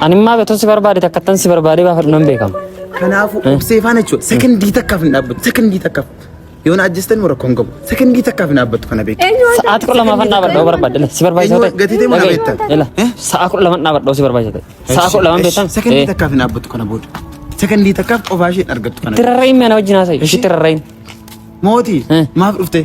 Ani immaa beektoon si barbaade takka tan si barbaadee baafadhu nan beekama. Kanaafuu obsee faana jechuudha. Sekondii takkaaf hin dhaabbatu. Sekondii takkaaf. Yoo na ajjeestan warra koon qabu. Sekondii takkaaf hin dhaabbatu kana beeku. Sa'aatii kudha lamaa fan dhaabadhoo barbaadde si barbaachisa ta'e. Gatii ta'e mana beektan. Sa'aa kudha lamaa dhaabadhoo si barbaachisa ta'e. Sa'aa kudha lamaa beektan. Sekondii takkaaf hin dhaabbatu kana booda. Sekondii takkaaf qofaa ishee argattu kana. Tirarra'iin mana wajjin haasa'i. Ishi tirarra'iin. Mootii maaf dhuftee?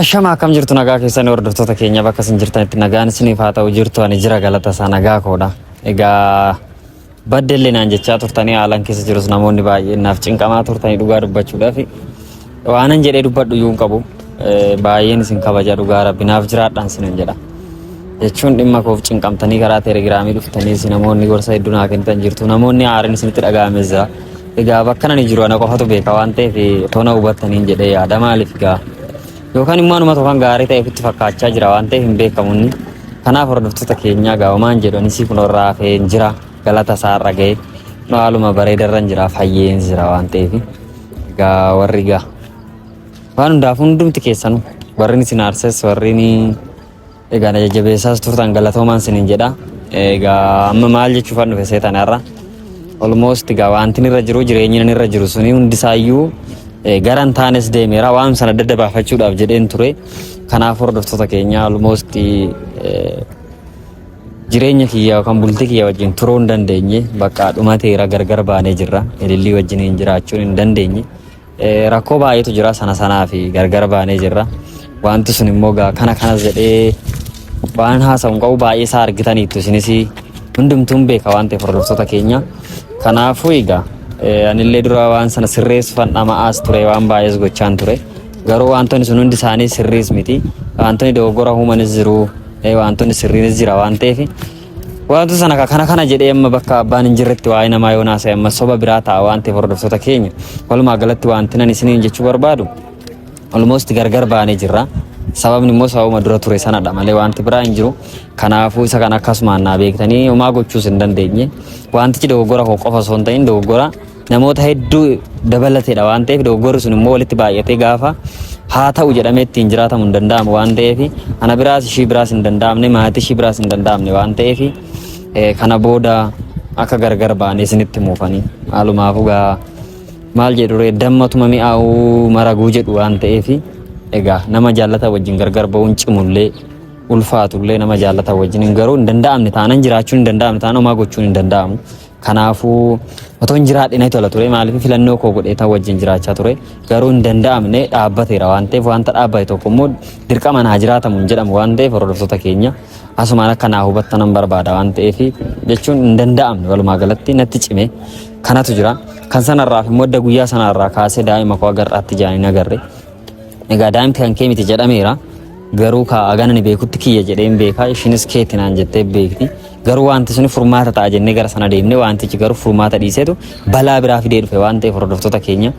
Ashama akkam jirtu nagaa keessanii hordoftoota keenya bakka isin jirtanitti nagaan isiniif haa ta'u jirtu ani jira galata isaa nagaa koodha. Egaa baddellee naan jechaa turtanii haalan keessa jirus namoonni baay'een naaf cinqamaa turtanii dhugaa dubbachuudhaaf waanan jedhee dubbadhu iyyuu hin qabu. Eh, Baay'een isin kabaja dhugaa rabbi naaf jiraadhaan isinin jedha. Jechuun dhimma koof cinqamtanii karaa telegiraamii dhuftanii isin namoonni gorsa hedduu naa kennitan jirtu namoonni aariin isinitti dhaga'ames jira. Egaa bakka nani jiru ana qofatu beeka waan ta'eef otoo na hubattaniin jedhee yaada maaliif egaa yookaan immoo anuma tokko kan gaarii ta'e ofitti fakkaachaa jira waan ta'eef hin beekamu inni. Kanaaf hordoftoota keenyaa egaa homaan jedhu anis kunoo irraa hafee hin jira galata isaa irra ga'ee kunoo haaluma bareeda irra hin jira fayyeen jira waan ta'eef egaa warri egaa waan hundaaf hundumti keessanu warri isin aarses warri ni Egaa na jajjabeessaas turtan galatoomaan sinin jedha. Egaa amma maal jechuufan dhufe seetan har'a. Almost egaa wantin irra jiru jireenyi nan irra jiru suni hundisaayyuu eh, gara hin taanes deemeera waan sana adda adda baafachuudhaaf jedheen ture. Kanaaf hordoftoota keenya almost eh, jireenya kiyya yookaan bultii kiyya wajjin turuu hin dandeenye bakka dhumateera gargar baanee jirra. Ilillii wajjin hin jiraachuun hin dandeenye. Rakkoo baay'eetu jira sana sanaa fi gargar baanee jirra. Wanti sun immoo gaa kana kanas jedhee waan haasa'u hin qabu baay'ee isaa argitaniittu isinis hundumtuun beeka waan ta'eef hordoftoota keenya. Kanaafuu egaa anillee dura waan sana sirreessuufan dhama'aas ture waan baay'ees gochaan ture. Garuu wantoonni sun hundi isaanii sirriis miti. Wantoonni dogoggora uumanis jiru. Wantoonni sirriinis jira waan ta'eef Wanti sana ka- kana kana jedhee amma bakka abbaan hin jirretti waa'ee namaa yoo naasa'e amma soba biraa ta'a waan ta'eef hordoftoota keenya walumaa galatti wanti nan isiniin jechuu barbaadu almost gargar baanee jirra. Sababni immoo sababuma dura ture sanadha malee wanti biraa hin jiru. Kanaafuu isa kana akkasumaan naa beektanii homaa gochuus hin dandeenye. Wantichi dogoggora koo qofa osoo hin ta'in dogoggora namoota hedduu dabalateedha waan ta'eef dogoggorri sun immoo walitti baay'atee gaafa haa ta'u jedhamee ittiin jiraatamu hin danda'amu waan ta'eef ana biraas ishii biraas hin danda'amne maatii ishii biraas hin danda'amne waan ta'eef eh, kana booda akka gargar baanee isinitti muufanii haalumaafuu gaa maal jedhu ree dammatuma mi'aawuu maraguu jedhu waan ta'eef egaa nama jaallata wajjin gargar ba'uun cimullee ulfaatullee nama jaallata wajjin hin garuu hin danda'amne taanan jiraachuun hin danda'amne taanan homaa gochuun hin danda'amu Kanaafuu otoo hin jiraadhe natti tola ture maaliif filannoo koo godhee tan wajjin jiraachaa ture garuu hin danda'amne dhaabbateera waan ta'eef wanta dhaabbate tokko immoo dirqamaan haa jiraatamu hin jedhamu waan ta'eef hordoftoota keenya asumaan akka naa hubattan nan barbaada waan ta'eef jechuun hin danda'amne walumaa galatti natti cime kanatu jira kan sanarraaf immoo adda guyyaa sanarraa kaasee daa'ima koo agarraatti jaanii nagarre Egaa daa'imti kan kee miti jedhameera. Garuu kaa agana ni beekutti kiyya jedhee hin beekaa ishiinis keetti naan jettee beekti. Garuu wanti suni furmaata ta'a jennee gara sana deemne wantichi garuu furmaata dhiiseetu balaa biraa fidee dhufe waan ta'eef hordoftoota keenya.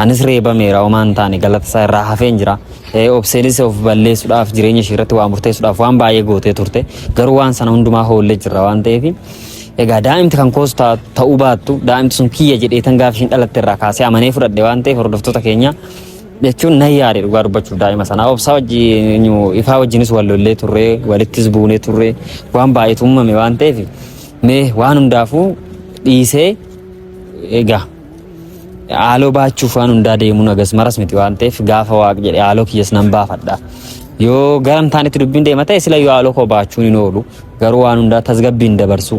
Anis reebameera homaa hin taane galata isaa irraa hafeen jira. Eh, Obseenis of balleessuudhaaf jireenya ishee irratti waa murteessuudhaaf waan baay'ee gootee turte. Garuu waan sana hundumaa hoollee jirra waan ta'eef Egaa daa'imti kan koos ta- ta'uu baattu daa'imti sun kiyya jedheetan gaafa ishiin dhalatte irraa kaasee amanee fudhadhe waan ta'eef hordoftoota keenya jechuun nan yaade dhugaa dubbachuuf daa'ima sana obsaa wajjin ifaa wajjinis wal lollee turre walittis buunee turre waan baay'eetu uumame waan ta'eef mee waan hundaafuu dhiisee egaa Haaloo baachuuf waan hundaa deemuun agas maras miti waan ta'eef gaafa waaq jedhe haaloo kiyyas nan baafadha. Yoo garam taanetti dubbiin deema ta'e sila yoo haaloo koo baachuun hin oolu garuu waan hundaa tasgabbiin dabarsu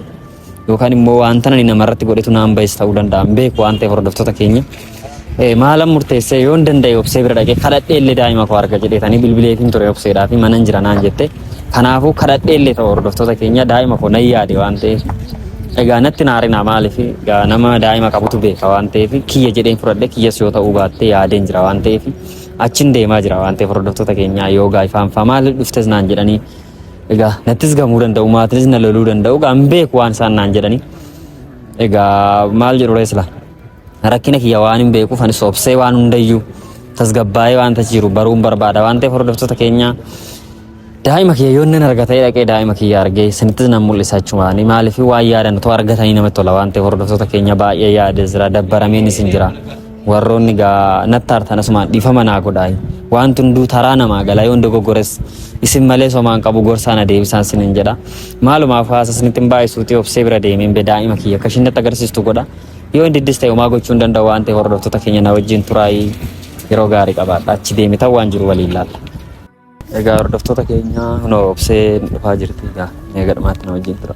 yookaan immoo wanta ani namarratti godhetu naan ba'es ta'uu danda'a hin beeku waan ta'eef hordoftoota keenya. Eh, Maalan murteessee yoon danda'e obsee bira dhaqee kadhadhee illee daa'ima koo arga jedheetanii bilbileetiin ture obseedhaa fi manan jira naan jette. Kanaafuu kadhadhee illee ta'u hordoftoota keenya daa'ima koo nan yaade waan ta'eef egaa natti naarinaa maaliif egaa nama daa'ima qabutu beeka waan ta'eef kiyya jedheen fudhadhe kiyyas yoo ta'uu baattee yaadeen jira waan ta'eef achin deemaa jira waan ta'eef hordoftoota keenyaa yoo gaaifaanfaa maal dhuftes naan jedhanii egaa nattis gamuu danda'u maatinis na loluu danda'u egaa hin beeku waan isaan naan jedhanii egaa maal jedhu reesla. Rakkina kiyya waan hin beekuuf anis obsee waan hundayyuu tasgabbaa'ee waan tachi jiru baruun barbaada waan ta'eef hordoftoota keenya daa'ima kiyya yoo nan arga ta'ee dhaqee daa'ima kiyya argee isinittis nan mul'isa achumaan maaliif waan yaadan otoo argatanii namatti tola waan ta'eef hordoftoota keenya baay'ee yaade jira dabbarameen isin jira warroonni gaa natti hartan asumaan dhiifama naa godhaa wanti hunduu taraa namaa gala yoon dogoggores isin malee somaan qabu gorsaa na deebisaan sinin jedha maalumaaf haasa isinitti hin baay'isuuti obsee bira deemeen be daa'ima kiyya akka ishiin natti agarsiistu godha. Yoo hin diddis ta'e homaa gochuu hin danda'u waan ta'e hordoftoota keenya na wajjin turaayii yeroo gaarii qabaadha. Achi deemitan waan jiru waliin laalla. Egaa hordoftoota keenya kunoo obsee dhufaa jirti egaa mee gadhumaatti na wajjin tura.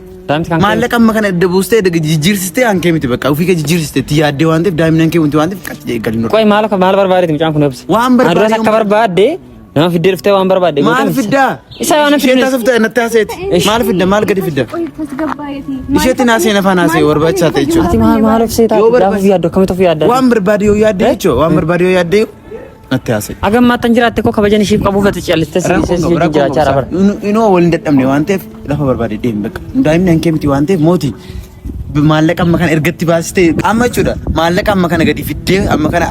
Maallaqa amma kana edda buustee edda jijjiirsistee aan kee miti bakka ofii kee jijjiirsistee itti yaaddee waan ta'eef daa'imni aan kee wanti waan ta'eef qaxxi jedhee galin Qoy maal maal barbaadeeti mucaan kun obsa. Waan barbaade Aduras akka barbaadde nama fiddee dhuftee waan barbaadde. Maal fiddaa? Isa waan fiddu. Ishee taasifte natti haaseeti. Maal fidda maal gadi fidda? Isheetti naasee nafaan haasee barbaachisaa ta'e jechuudha. Ati maal maal obseetaa? Yoo barbaade yaaddu akkamitti of yaadda? Waan barbaade yoo yaadde jechuudha. Waan barbaade yoo yaadde natti haasa'e. Hagam maattan jiraatte koo kabajan ishiif qabuuf ati callistee si dhiisee si wajjin jiraachaa jira bara. Inoo wal hin dadhabne waan ta'eef lafa barbaade deemi bakka. Daa'imni hankee miti waan ta'eef mooti maallaqa amma kana ergatti baasiste amma jechuudha. Maallaqa amma kana gadi fiddee amma kana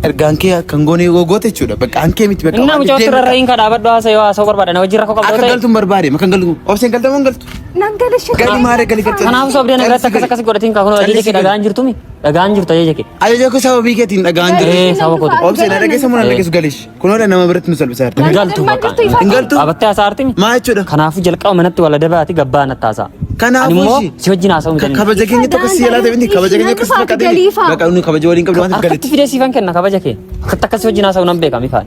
erga hankee kan goonee yoo goote jechuudha. Bakka hankee miti bakka. Innaa mucaa turarra hin kadhaabadhu haasa yoo haasa'u barbaada na wajjin rakkoo qabdoo ta'e. Akka galtu hin barbaade makan galtu obseen galta moo hin galtu. Nan gala shakka. Gali maare gali galta. Kanaaf sobdee na biratti akkas akkas godhatiin kaa kun hojii kee dhagaan jirtumi. Dhagaan jirtu ajaja kee. Ajaja koo sababii keetiin dhagaan jiru. Ee saba koo. Obsee na dhageessa moo na dhageessu galish. Kunoodha nama biratti nu salphisaa jirti. Hin galtu bakka. Hin galtu. Qabattee hasaartimi. Maa jechuudha. Kanaafuu jalqaba manatti wal adabaati gabbaa natti haasaa. Kanaafuu Ani immoo ishii. si wajjin haasa'uu hin dandeenye. Kabaja keenya tokko si yaalaa ta'e kabaja keenya akkasuma qabatee. Baqa inni kabaja waliin qabdu waan ta'eef Harkatti galitti. fidee siifan kenna kabaja kee. Akkatti akkasii wajjin haasa'uu nan beeka Mikaa'el.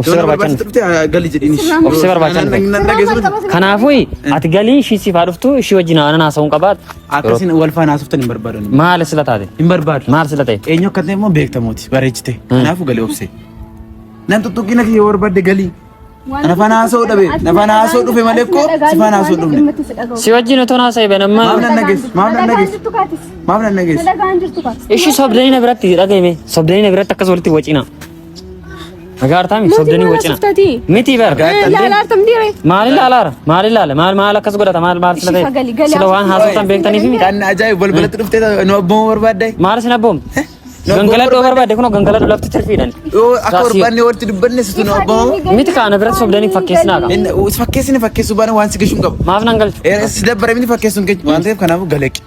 Obsi barbaachan obsi barbaachan kanaafuu ati galii ishii siif haa dhuftu ishii wajjin aanan haasa'uun qabaa akkasiin wal faana haasoftan hin barbaadu maal sila taate hin barbaadu maal sila ta'e eenyu akka ta'e immoo beektamooti bareechite kanaafuu galii obse nan tuttuqqina kiyya barbaadde galii na faana haasa'uu dhabe na faana haasa'uu dhufe malee koo si faana haasa'uu dhufne si wajjin otoo haasa'e bana maaf nan nageessu maaf nan nageessu maaf nan nageessu ishii sobdanii na biratti dhaga'ime sobdanii na biratti akkas walitti wacina. Nagaartaa miti sobdanii wacina. Miti bar. Maali laalaara? Maali laala? Maal maal akkas godhata? Maal maal sila ta'e? Sila waan haasoftan beektaniif miti. Kan ajaa'ibu balbalatti hmm. dhuftee nu abboomuu barbaadde. Maal isin abboom? Eh? Gangaladoo barbaadde kun gangaladoo lafti tirfiidhaan. Akka barbaanne walitti dubbanne situ nu abboomuu. Miti kaana biratti sobdanii fakkeessinaa qaba. Fakkeessini fakkeessuu baana waan si gashuun qabu. Maaf nan galchu. Eh, si dabbara miti fakkeessuun keenya waan ta'eef kanaafuu galeeqi.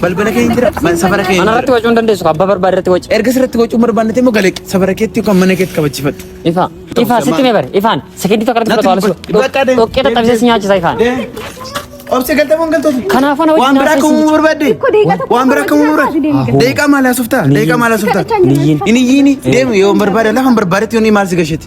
Balbala kee hin jira. Man safara kee hin Ana jira. irratti wacuu hin dandeessu. Abbaa barbaade irratti waci. Erga sirratti wacuu barbaannate immoo galeeq safara keetti yookaan mana keetti kabachifadhu. Ifaa. Ifaa sitti mee bare. Ifaan. Sekendii tokko irratti fudhatu haala Bakka deem. Dhoqqee dadhabsee si nyaachisa ifaan. Obse galtamuun galtoota. Kanaafuu na wajjin Waan biraa haasofsiisi. akkamuu barbaadde. Tokko deeqa tokko Waan biraa akkamuu wajjin barbaadde. haasofsiisi deemi. Deeqaa maal haasoftaa? Deeqaa maal haasoftaa? Hin iyyiini. Hin iyyiini. Deemu yoo barbaade lafa hin barbaadetti yoo ni maal si gasheti.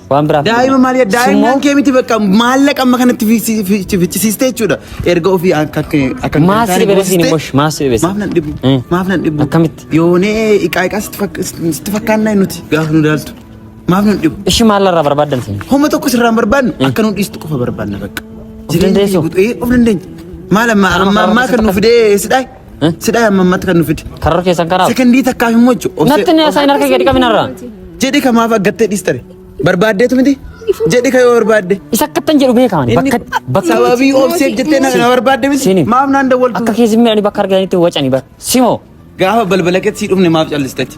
Waan biraaf. Daa'ima maal yaa daa'imman kee miti bakka maallaqa amma kanatti fichisiiste jechuudha. Erga ofii akka akka Maaf si dhibee siin mosh maaf si dhibee. Maaf nan dhibu. Maaf nan dhibu. Akkamitti? Yoonee iqaa iqaa sitti fakkaannaa nuti gaafa nu daaltu. Maaf nan dhibu. Ishi maal irraa barbaaddan siin? Homa tokko sirraan barbaadnu akka nu dhiistu qofa barbaadna bakka. Of dandeessu. Of dandeenya. Maal amma amma amma kan nu fidee sidhaa? Sidhaa amma ammatti kan nu fide. Karra keessan kanaaf. Sekondii takkaaf immoo jechu. Natti na saayina harka gadi qabin irraa. Jedhi ka maaf aggattee dhiistare. Barbaaddeetu miti. Jedhi ka yoo barbaadde. Isa akkattan jedhu beekaman. Bakka bakka Sababii obseef jettee na na barbaadde miti. Sini. Maaf naan dawwaltu. akka keessi miidhani bakka argatanitti wacani bar. Simoo. Gaafa balbala keetti sii dhumne maaf callistachi.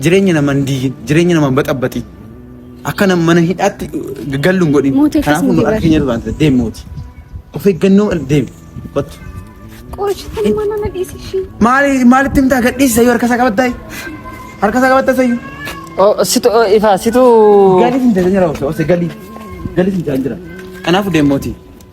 Jireenya nama hin diigin, jireenya nama hin baxabbaxin. Akka nama mana hidhaatti gallu hin godhin. Mootii akkasii Kanaafuu nu miti argina irraa deemi mooti. Of eeggannoo deemi. Kottu. Qooshitan mana na dhiisi ishii. Maali maalitti himtaa gadhiisa yoo harkasaa qabattaay? Harkasaa qabattaa sayyuu? Oh, situ oh, ifaa situ Galii hin jira jira osoo osoo galii. Galii hin jira jira. Kanaafuu deemi mooti.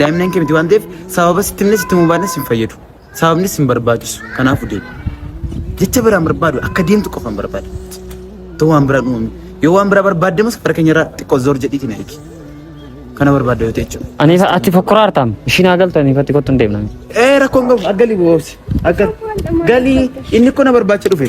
Daa'imnan kee miti waan ta'eef sababa sitti himne sitti himuu baannes hin fayyadu. Sababnis hin barbaachisu. Kanaafuu deemi. Jecha biraan barbaadu akka deemtu qofan barbaada. Too waan biraan uumame. Yoo waan biraa barbaadde immoo safara keenya irraa xiqqoo zoor jedhiitiin eegi. Kana barbaadda yoo ta'e jechuudha. Ani isa ati fokkora artaam. Ishiin haa galtu ani ifatti kottu hin deemna. Ee rakkoon qabu akka galii boobsi. Akka galii inni kun na barbaacha dhufe.